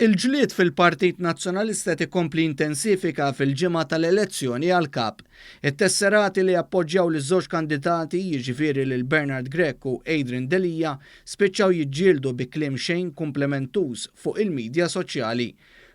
Il-ġlied fil-Partit Nazzjonalista qed ikompli jintensifika fil-ġimgħa tal-elezzjoni għall-Kap. It-tesserati li appoġġjaw liż-żewġ kandidati, jiġifieri lil Bernard Grech u Adrian Delia, spiċċaw jiġġieldu bi kliem xejn kumplimentuż fuq il-midja soċjali.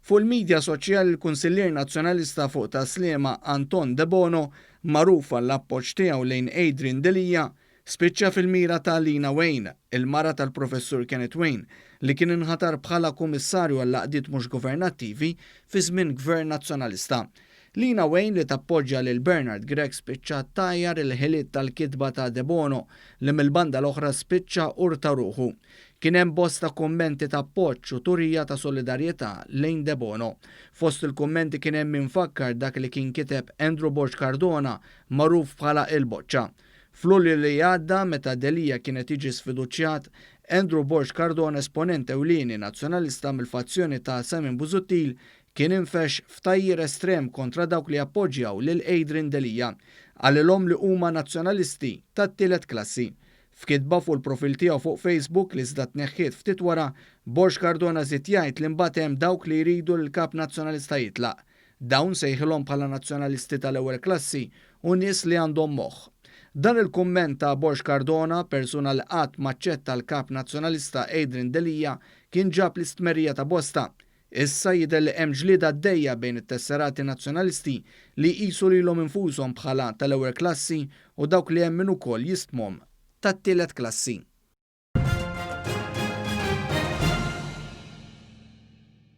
Fuq il-midja soċjali l-Kunsillier Nazzjonalista fuq Tas-Sliema Anton Debono, magħruf għall-appoġġ tiegħu lejn Adrian Delia, Spiċċa fil-mira ta' Lina Wain, il-mara tal-Professur Kenneth Wain, li kien inħatar bħala Kummissarju għall-Għaqdiet Mhux Governattivi fi żmien Gvern Nazzjonalista. Lina Wain li tappoġġja lil Bernard Grech spiċċat tgħajjar il-ħiliet tal-kitba ta' Debono li mill-banda l-oħra spiċċa ur ta' ruħu. Kien hemm bosta kummenti ta' appoġġ u turija ta' solidarjetà lejn Debono. Fost il-kummenti kien hemm min fakkar dak li kien kiteb Andrew Borg Cardona magħruf bħala Il-Boċċa. F'Lulju li għadda, meta Delia kien qed jiġi sfiduċjat, Andrew Borg Cardona esponent ewlieni Nazzjonalista mill-fazzjoni ta' Simon Busuttil kien infexx f'tgħajjir estrem kontra dawk li jappoġġjaw lil Adrian Delia. Qalilhom li huma Nazzjonalisti tat-tielet klassi. F'kitba fuq il-profil tiegħu fuq Facebook, li iżda tneħħiet ftit wara, Borg Cardona żied jgħid li mbagħad hemm dawk li jridu li l-Kap Nazzjonalista jitlaq. Dawn sejħilhom bħala nazzjonalisti tal-ewwel klassi u nies li għandhom moħħ. Dan il-kumment ta' Borg Cardona, persuna li qatt m'aċċetta l-Kap Nazzjonalista Adrian Delia, kien ġab l-istmerrija ta' bosta. Issa jidher li hemm ġlieda għaddejja bejn it-tesserati Nazzjonalisti li jqisu lilhom infushom bħala tal-ewwel klassi u dawk li hemm min ukoll jistmhom tat-tielet klassi.